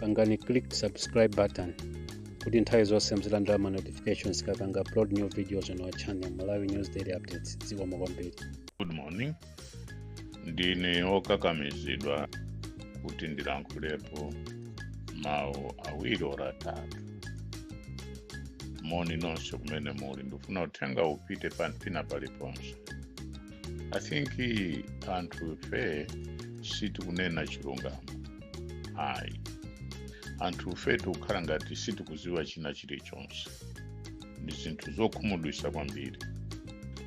pangani click subscribe button kuti nthawi zonse muzilandira ma notifications tikapanga upload new videos on our channel malawi news daily updates zikomo kwambiri good morning ndine okakamizidwa kuti ndilankhulepo mawu awiri or atatu moni nonse kumene muli ndifuna uthenga upite pena paliponse i think anthu fe sitikunena chilungamo ayi anthu fe tikukhala ngati sitikuziwa china chilichonse ndi zinthu zokhumudwisa kwambiri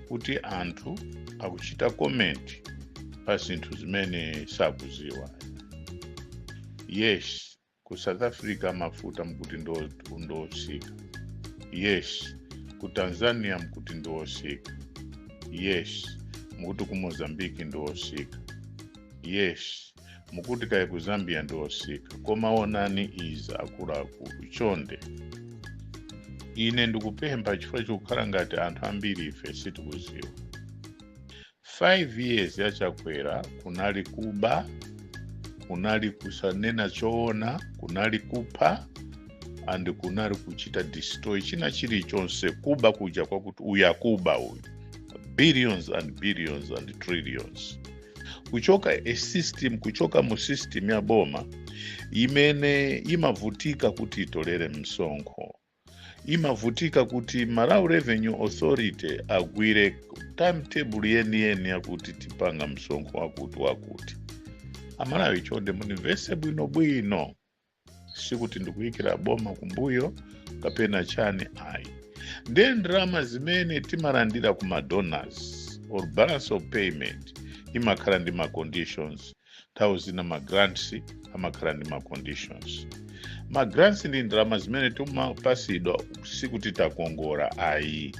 kuti anthu akuchita comment pa zinthu zimene sakuziwa yes ku south africa mafuta mkuti ndiwosika yes ku tanzania mkuti ndiwosika yes mukuti ku mozambiki ndiwosika yes mukuti kaya ku zambia ndiwosika koma onani izi akuluakulu chonde ine ndikupempha chifukwa chikukhala ngati anthu ambiri ife sitikuziwa 5 years ya chakwera kunali kuba kunali kusanena choona kunali kupha and kunali kuchita destroy china chilichonse kuba kuja kwakuti uyu akuba uyu billions and billions and trillions kuchoka system kuchoka mu system ya boma imene imavutika kuti itolere msonkho imavutika kuti malawi revenue authority agwire timetable yeniyeni yakuti tipanga msonkho wakuti wakuti amalawi chonde mundimvese bwinobwino sikuti ndikuyikira boma kumbuyo kapena chani ayi ndiye ndalama zimene timalandira ku madonors or balance of payment imakhala ndi ma conditions nthawi zina ma grants amakhala ndi ma conditions ma grants ndi ndalama zimene timapasidwa sikuti takongora ayi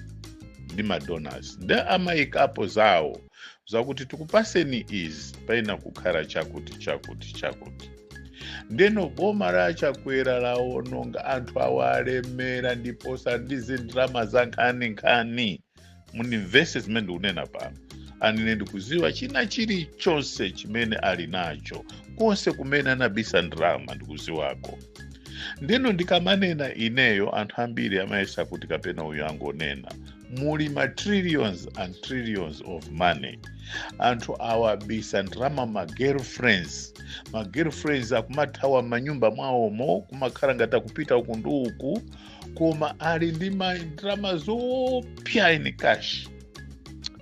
ndi ma donors nde amayikapo zawo zakuti tikupaseni izi paina kukhala chakuti chakuti chakuti ndeno boma la chakwera lawononga anthu awa alemera ndiposa ndizi ndalama zankhaninkhani mundimvese zimene ndikunena pano and ine ndikuziwa china chilichonse chimene ali nacho konse kumene anabisa ndalama ndikuziwako ndeno ndikamanena ineyo anthu ambiri amayesa kuti kapena uyu angonena muli ma trillions and trillions of money anthu awabisa ndalama ma girlfriends ma girlfriends akumathawa mmanyumba mwawomo kumakhala ngati akupita uku ndi uku koma ali ndi ndalama zoopsa in cash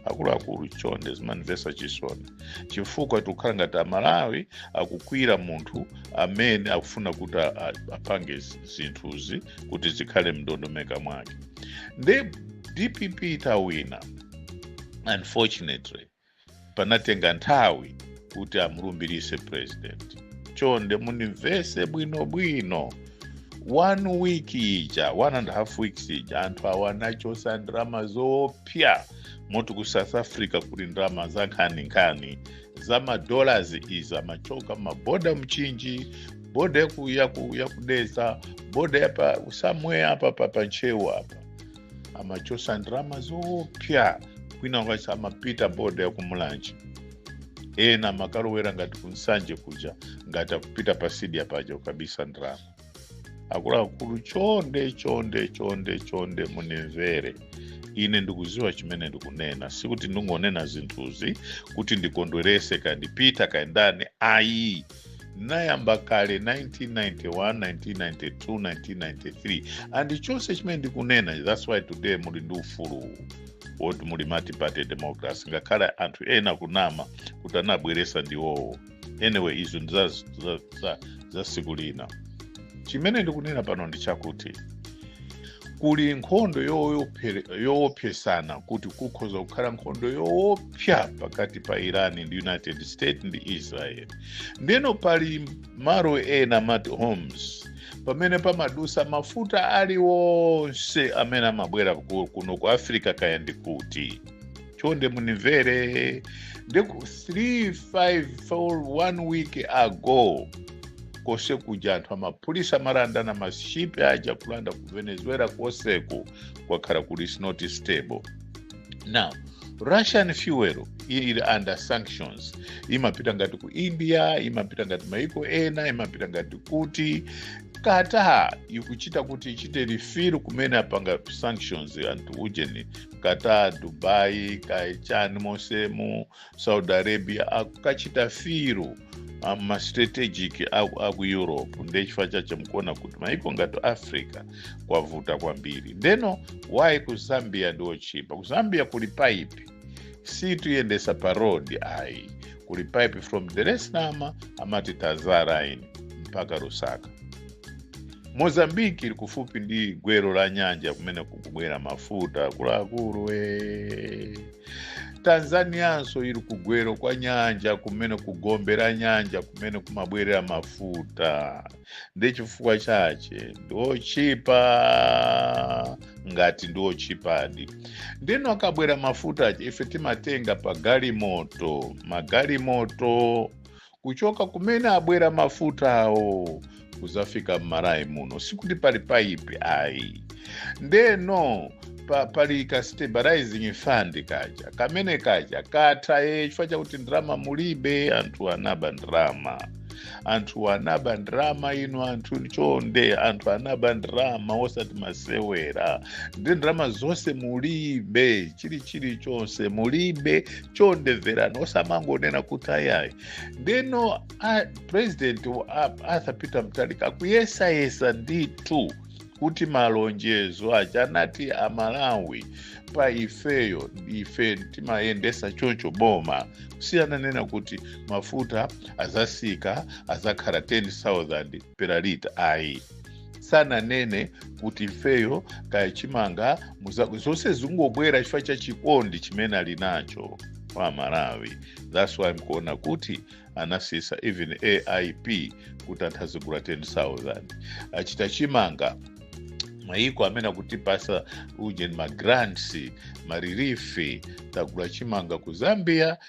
akuluakulu chonde zimandimvesa chisoni chifukwa tikukhala ngati amalawi akukwiyira munthu amene akufuna kuti a- a- apange zi- zinthuzi kuti zikhale mndondomeko mwake nde dpp itawina unfortunately panatenga nthawi kuti amulumbirise president chonde mundimvese bwinobwino one week ija one and a half weeks ija anthu awa anachosa ndalama zoopsa moti ku south africa kuli ndalama za nkhaninkhani za madollars izi amachoka maboda mchinji boda yaku- yaku- yakudedza boda yapa somewhere apa pa pa ntcheu apa amachosa ndalama zoopsa kwina kwake amapita boda yakumulanje ena amakalowera ngati kunsanje kuja ngati akupita patsidya paja kukabisa ndalama akuluakulu chonde chonde chonde chonde munimvere ine ndikuziwa chimene ndikunena sikuti ndingonena zinthuzi kuti ndikondwerese kandipite kayendeni ayi nayamba kale 1991 1992 1993 and chonse chimene ndikunena that's why today muli ndi ufulu woti muli multiparty democracy ngakhale anthu ena kunama kuti anabweresa ndiwowo anyway izo ndi za- za- za- za siku lina chimene ndikunena pano ndi chakuti kuli nkhondo yoophe- yoopsezana kuti kukhoza kukhala nkhondo yoopsa kupsa pakati pa iran ndi united states ndi israel ndeno pali malo ena amati hormuz pamene pamadusa mafuta aliwonse amene amabwera ku- kuno ku africa kaya ndi kuti chonde munimvere ndeku 3 5 4 1 week ago kose kuja anthu amaphulitsa amalandana mashipi aja kulanda ku venezuela koseku kwakhala kuli is not stable now russian fuel ili under sanctions imapita ngati ku india imapita ngati maiko ena imapita ngati kuti qatar ikuchita kuti ichite refill komwe apanga sanctions anthu ujeni qatar dubai kaya chani mosemu saudi arabia akukachita fill mastrategic aku europe ndechifukwa chake mukuona kuti maiko ngati africa kwavuta kwambiri ndeno why ku zambia ndiochipa ku zambia kuli paipi sakuyendesa pa road ayi kuli paipi from dar es salaam amati tazara line mpaka lusaka mozambiki ili kufupi ndi gwero la nyanja kumene kukubwera mafuta akuluakulu e tanzanianso iri kugwero kwa nyanja kumene kugombe ra nyanja kumene kumabwerera mafuta ndechifukwa chache ndiochipa ngati ndiochipadi ndeno akabwera mafuta ache ife timatenga pa galimoto magalimoto kuchoka kumene abwera mafuta awo kuzafika m'malawi muno sikuti pali paipi ayi ndeno pali ka stabilizing fund kaja kamene kaja katha ye chifukwa chakuti ndrama mulibe anthu anaba ndrama anthu anaba ndrama ino anthu chonde anthu anaba ndrama osati masewera ndi ndrama zonse mulibe chili chili chonse mulibe chonde mverani osamangonena kuti ayayi ndeno president arthur peter mutharika akuyesayesa ndithu kuti malonjezo aja anati amalawi pa ifeyo ife timayendesa choncho boma sananene kuti mafuta azasika azakhala 10000 per lita ayi sananene kuti ifeyo kaya chimanga muza- zonse zingobwera chifukwa cha chikondi chimene ali nacho kwa malawi thats why mkuona kuti anasisa even aip kuti anthu azigula 10000 achita chimanga mayiko amene akutipasa ujeni magrants marilifi tagula chimanga ku zambia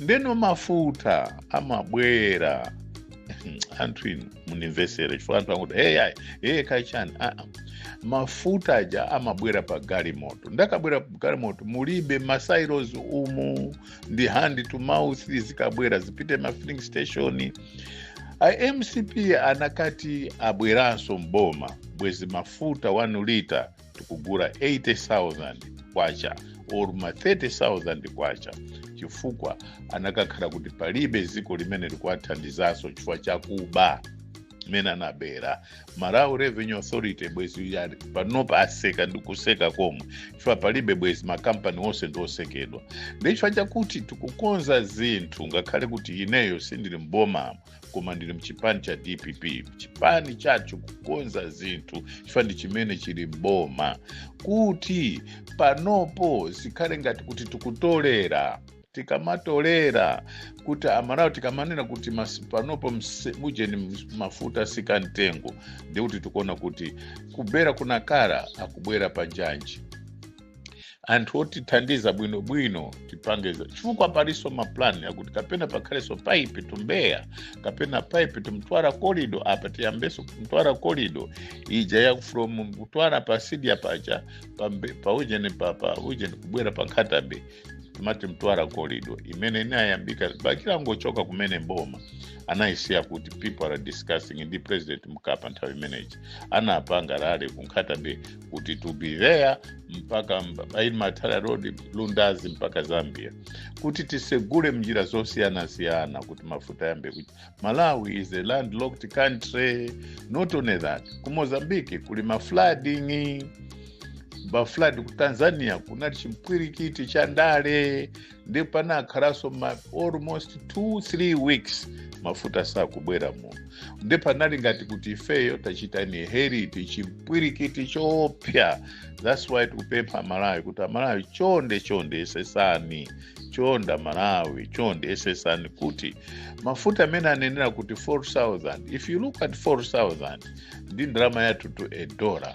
ndeno mafuta amabwera anthu inu munimvesere chifukwa anthu akuti hey, ayi hey, kachani ah, ah. mafuta aja amabwera pa galimoto ndakabwera pa galimoto mulibe masilos umu ndi hand to mouth zikabwera zipite ma filling station mcp anakati abweranso mboma bwezi mafuta 1 lita tikugula 80,000 kwacha or ma 30,000 kwacha chifukwa anakakhala kuti palibe dziko limene likuwathandizaso chifukwa chakuba mene anabera malawi revenue authority bwezi ya- panopa aseka ndi kuseka komwe chifukwa palibe bwezi makampani onse ndi osekedwa ndechifukwa chakuti tikukonza zinthu ngakhale kuti ineyo sindili mboma koma ndili mchipani cha dpp chipani chathu chikukonza zinthu chifukwa ndi chimene chili mboma kuti panopo zikhale ngati kuti tikutolera tikamatolera kuti amalawi tikamanena kuti panopo ujeni mafuta asika mtengo nde kuti tikuona kuti kubwera kunakakhala akubwera pa njanji anthu otithandiza bwinobwino tipange izo chifukwa palinso mapulani akuti kapena pakhalenso paipi ku mbeya kapena paipi ku mtwara corridor apa tiyambenso mtwara corridor ija ya from mtwara pa sidia paja pa, mbe- pa ujeni pa, pa ujeni kubwera pa nkhata bay timati mtwara corridor imene inayambika bakili angochoka kumene mboma anayisiya kuti people are discussing ndi president mkapa nthawi imeneyi anapanga rally ku nkhata bay kuti to be there mpaka m'mbelwa road lundazi mpaka zambia kuti tisegule njira zosiyanasiyana kuti mafuta yambe kuti malawi is a landlocked country not only that ku mozambique kuli maflooding maflood ku tanzania kunali chipwirikiti cha ndale nde panakhalanso almost 2 3 weeks mafuta sakubwera muno nde panali ngati kuti ifeyo tachita inherit chipwirikiti choopsa that's why tikupempha amalawi kuti amalawi chonde chonde esesani chonde amalawi chonde esesani kuti mafuta amene anenera kuti 4000 if you look at 4000 ndi ndalama yathu to a dollar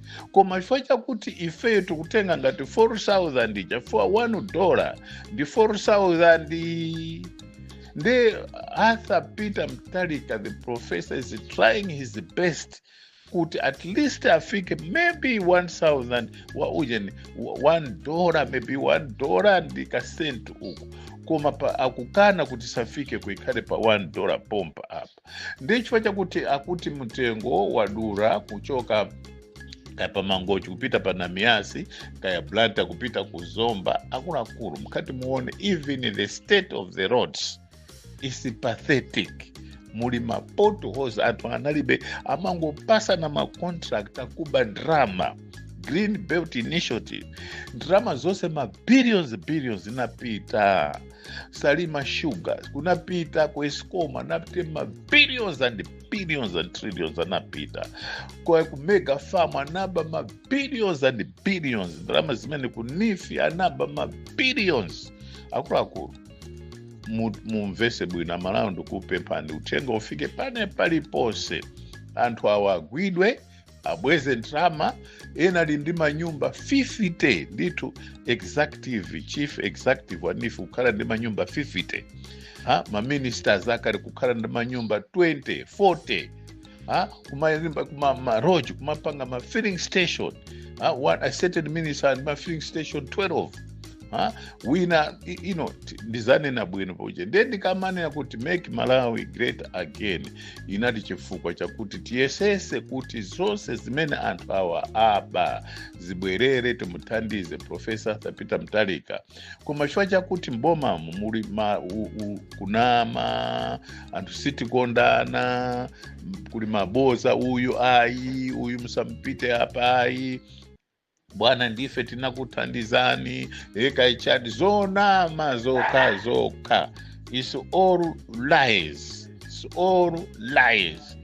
koma chifukwa chakuti ifeyo tikutenga ngati 4000 ija chifukwa 1 dola ndi 4000 nde arthur peter mutharika the professor is trying his best kuti at least afike maybe 1000 wa ujeni 1 dola maybe 1 dola ndi kasenti uku koma pa, akukana kuti safike ikhale pa 1 dola pompa apa ndiye chifukwa chakuti akuti mtengo wadula kuchoka kaya pa mangochi kupita pa namiyasi kaya blantyre kupita ku zomba akuluakulu mukati muone even the state of the roads is pathetic muli ma potholes anthu analibe amangopatsana ma contract akuba ndalama green belt initiative ndalama zonse ma billions billions zinapita salima sugars kunapita ku escom anapita mabillions and billions and trillions anapita kwa ku mega farm anaba mabillions and billions ndalama zimene ku neef anaba mabillions akuluakulu mu- mumvese bwino amalawi ndikupemphani uthenga ufike pena paliponse anthu awa agwidwe abweze ndalama ena ali ndi manyumba 50 ndithu executive chief executive wa neef kukhala ndi manyumba 50 ha maministers akale kukhala ndi manyumba 20 40 ha kumanga maloji kumapanga ma filling station ha one a certain minister ali ndi ma filling station 12 a, wina i- ino ti- ndizanena bwino pakuja ndiye ndikamanena kuti make malawi great again inali chifukwa chakuti tiyesese kuti zonse zimene anthu awa aba zibwerere timuthandize profesa arthur peter mutharika koma chifukwa chakuti mbomamu muli ma, u, u, kunama anthu sitikondana m- kuli maboza uyu ayi uyu musampite apa ayi bwana ndife tinakuthandizani eee kaya chani zonama zokha zokha its all lies its all lies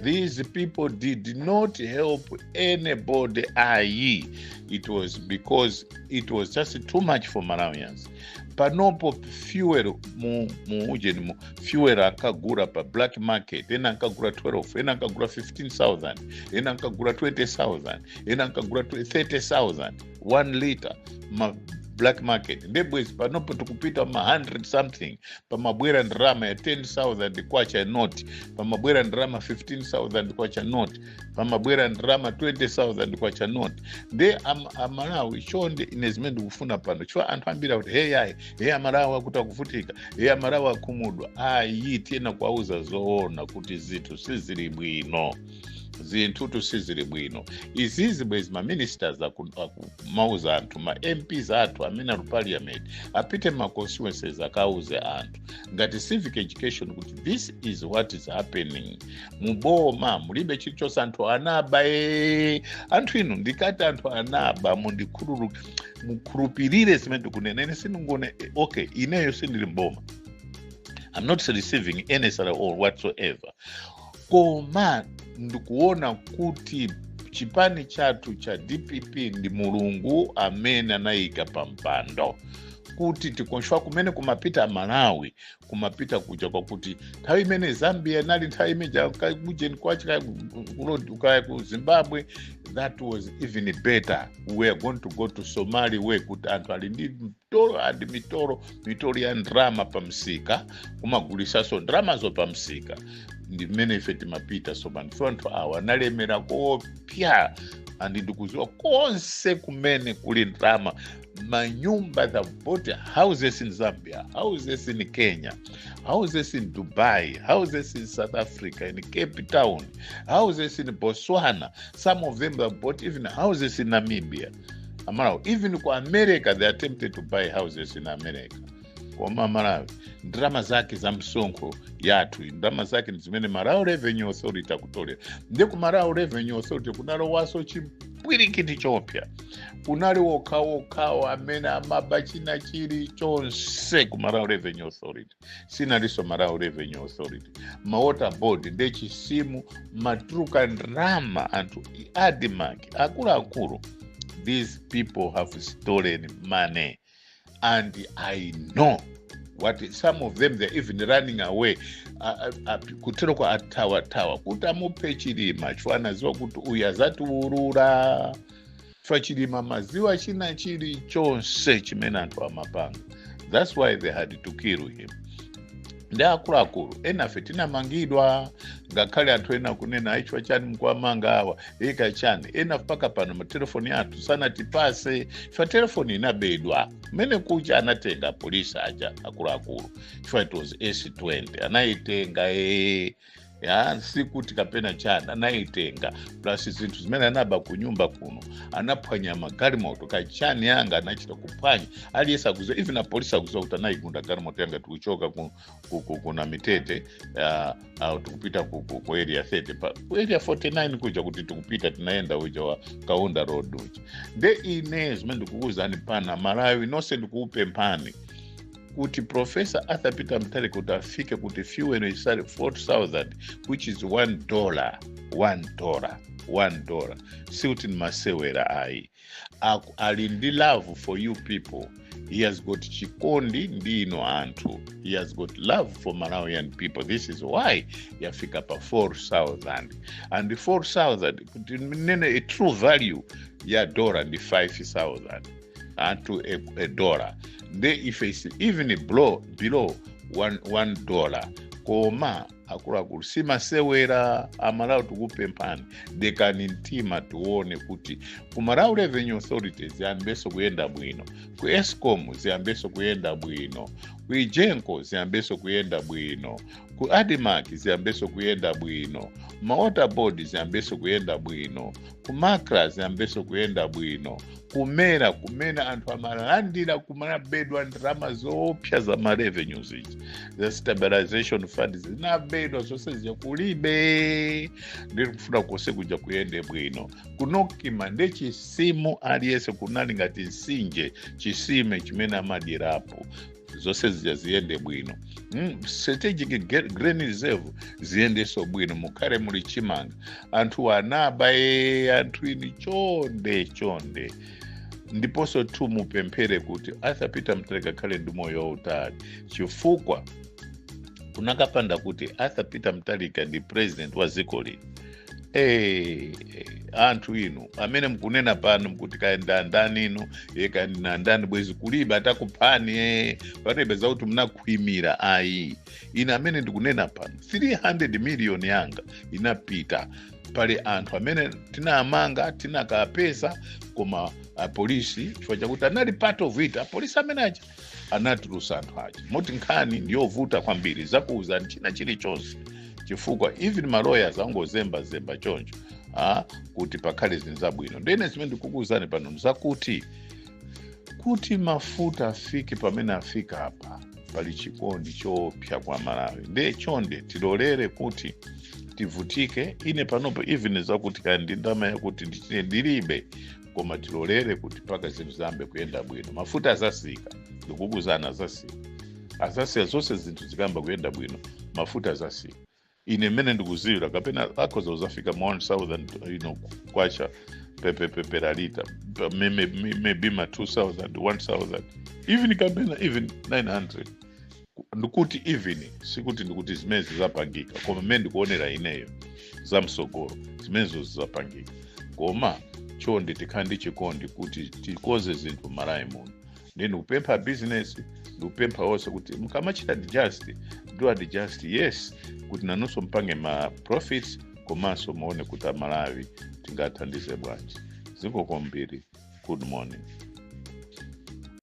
these people did not help anybody ayi it was because it was just too much for malawians panopo fuel mu, mu ujeni mu fuel ankagula pa black market ena ankagula 12 ena ankagula 15000 ena ankagula 20000 ena ankagula 30000 1 liter ma black market nde bwezi panopo tikupita ma 100 something pamabwera ndalama ya 10000 kwacha note pamabwera ndalama ya 15000 kwacha note pamabwera ndalama ya 20000 kwacha note nde am, amalawi chonde ine zimene ndikufuna pano chifukwa anthu ambiri akuti hey ayi hey amalawi akuti akuvutika hey amalawi akhumudwa ayi tiyenera kuwauza zoona kuti zinthu sizili bwino zinthu sizili bwino izizi bwezi ma ministers aku- akumauza anthu ma mps athu amene ali parliament apite ma constituencies akauze anthu ngati civic education kuti this is what is happening muboma mulibe chilichonse anthu anaba ee anthu inu ndikati anthu anaba mundikhululu mukhulupirire zimene ndikunena ine sindikunama okay ineyo sindili mboma i'm not receiving any salary or whatsoever koma ndikuona kuti chipani chathu cha dpp ndi mulungu amene anayika pa mpando kuti tikonze kumene kumapita malawi kumapita kuja kwakuti nthawi imene zambia inali nthawi imeja kujeni kwake kaya ku- ku- kaya ku zimbabwe that was even better we are going to go to somali where kuti anthu ali ndi mitolo andi mitolo mitolo ya ndalama pamsika kumagulisanso ndalamazo pamsika ndi kumene ife timapita sopano so anthu awa analemera koopsa andi ndikuziwa konse kumene kuli ndalama manyumba they bought houses in zambia houses in kenya houses in dubai houses in south africa in cape town houses in botswana some of them have bought even houses in namibia amalawi even ku america they attempted to buy houses in america koma amalawi ndalama zake za msonkho yathu ndalama zake ndi zimene malawi revenue authority akutolera ndi ku malawi revenue authority kunalowaso chipwirikiti choopsya kunali wokhawo amene amaba china chilichonse ku malawi revenue authority sinalinso malawi revenue authority ma water board nde chisimu matuluka ndrama anthu i- admark akuluakulu these people have stolen money and i know what some of them they're even running away A- a- a- kuteroko athawathawa kuti amuphe chilima chifukwa anaziwa kuti uyu azatiulula chifukwa chilima amaziwa china chili chonse chimene anthu amapanga thats why they had to kill him nde akuluakulu enafe tinamangidwa ngakhale anthu ena kunena ayi chifukwa chani mkuwamanga awa eee kachani ena mpaka pano matelefoni athu sanatipase chifukwa telefoni inabedwa mmene kucha anatenga polisi aja akuluakulu chifukwa it was s20 anayitenga ee ya sikuti kapena chani anayitenga plus zinthu zimene anaba ku nyumba kuno anaphwanya magalimoto kachani yanga anachita kuphwanya aliyense akuziwa even apolisi akuziwa kuti anayigunda galimoto yanga tikuchoka ku, ku, ku, kunamitete uh, uh, tikupita ku, ku, ku area 30 pa ku area 49 kuja kuti tikupita tinayenda uja wa kaunda road uja nde ine zimene ndikukuwuzani pano amalawi nonse ndikukupemphani kuti profesa arthur peter mutharika kuti afike kuti fuel itsale 4000 which is 1 dollar 1 dollar 1 dollar sikuti ni masewera ayi Aku- ali ndi love for you people he has got chikondi ndi inu anthu he has got love for malawian people this is why yafika pa 4000 and 4000 kuti nene a true value ya dollar ndi 5000 to a, a dollar nde ifeyo isi- even below, below one, one dollar koma akuluakulu simasewera amalawi tikupemphani dekani mtima tione kuti ku malawi revenue authority ziyambenso kuyenda bwino ku escom ziyambenso kuyenda bwino ku egenco ziyambenso kuyenda bwino ku admarc ziyambenso kuyenda bwino mawater board ziyambenso kuyenda bwino ku macra ziyambenso kuyenda bwino ku mera kumene anthu amalandira kumanabedwa ndalama zoopsa za ma revenues izi za stabilization fund zinabedwa zonse zija kulibe nde tikufuna konse kuja kuyende bwino ku nocma nde chisimu aliyense kunali ngati mtsinje chitsime chimene amadyerapo zonse zija ziyende bwino mm, strategic ge- grain reserve ziyendenso bwino mukhale muli chimanga anthu anaba e anthu inu chonde chonde ndiponso tu mupemphere kuti arthur peter mutharika akhale ndi moyo wautali chifukwa kunakapanda kuti arthur peter mutharika ndi president wa dziko lino Hey, anthu inu amene mukunena pano mkuti kayenda ndani inu e kayenda ndani bwezi kulibe atakuphani e palibe zakuti munakhwimira ayi ine amene ndikunena pano 300 miliyoni yanga inapita pali anthu amene tinaamanga tinakapeza koma apolisi chifukwa chakuti anali part of it apolisi amene aja anatulusa anthu aja moti nkhani ndiyovuta kwambiri zakuwuzani china chilichonse chifukwa even ma lawyers angozembazemba choncho ah, kuti pakhale zinthu zabwino ndene zimene ndikukuwuzani pano nzakuti kuti mafuta afike pamene afika apa pali chikondi choopsa kwa malawi ndiye chonde tilolere kuti tivutike ine panopo even zakuti kaya ndi ndama yakuti ndichite ndilibe koma tilolere kuti mpaka zinthu ziyambe kuyenda bwino mafuta azasika ndikukuuzani azasika azasika zonse zinthu zikayamba kuyenda bwino mafuta azasika ine mmene ndikuziwira kapena akhoza kuzafika ma 1000 kwacha pe- pe- per litre maybe ma 2000 1000 even kapena even 900 ndikuti even sikuti ndikuti zimene zizapangika koma mmene ndikuonera ineyo za msogolo zimenezo zizapangika koma chonde tikhale ndi chikondi kuti tikonze zinthu malawi muno nde ndikupempha business ndikupempha onse kuti mukamachita adjust do adjust yes kuti nanunso mpange ma profits komanso muone kuti amalawi tingathandize bwanji zikomo kwambiri good morning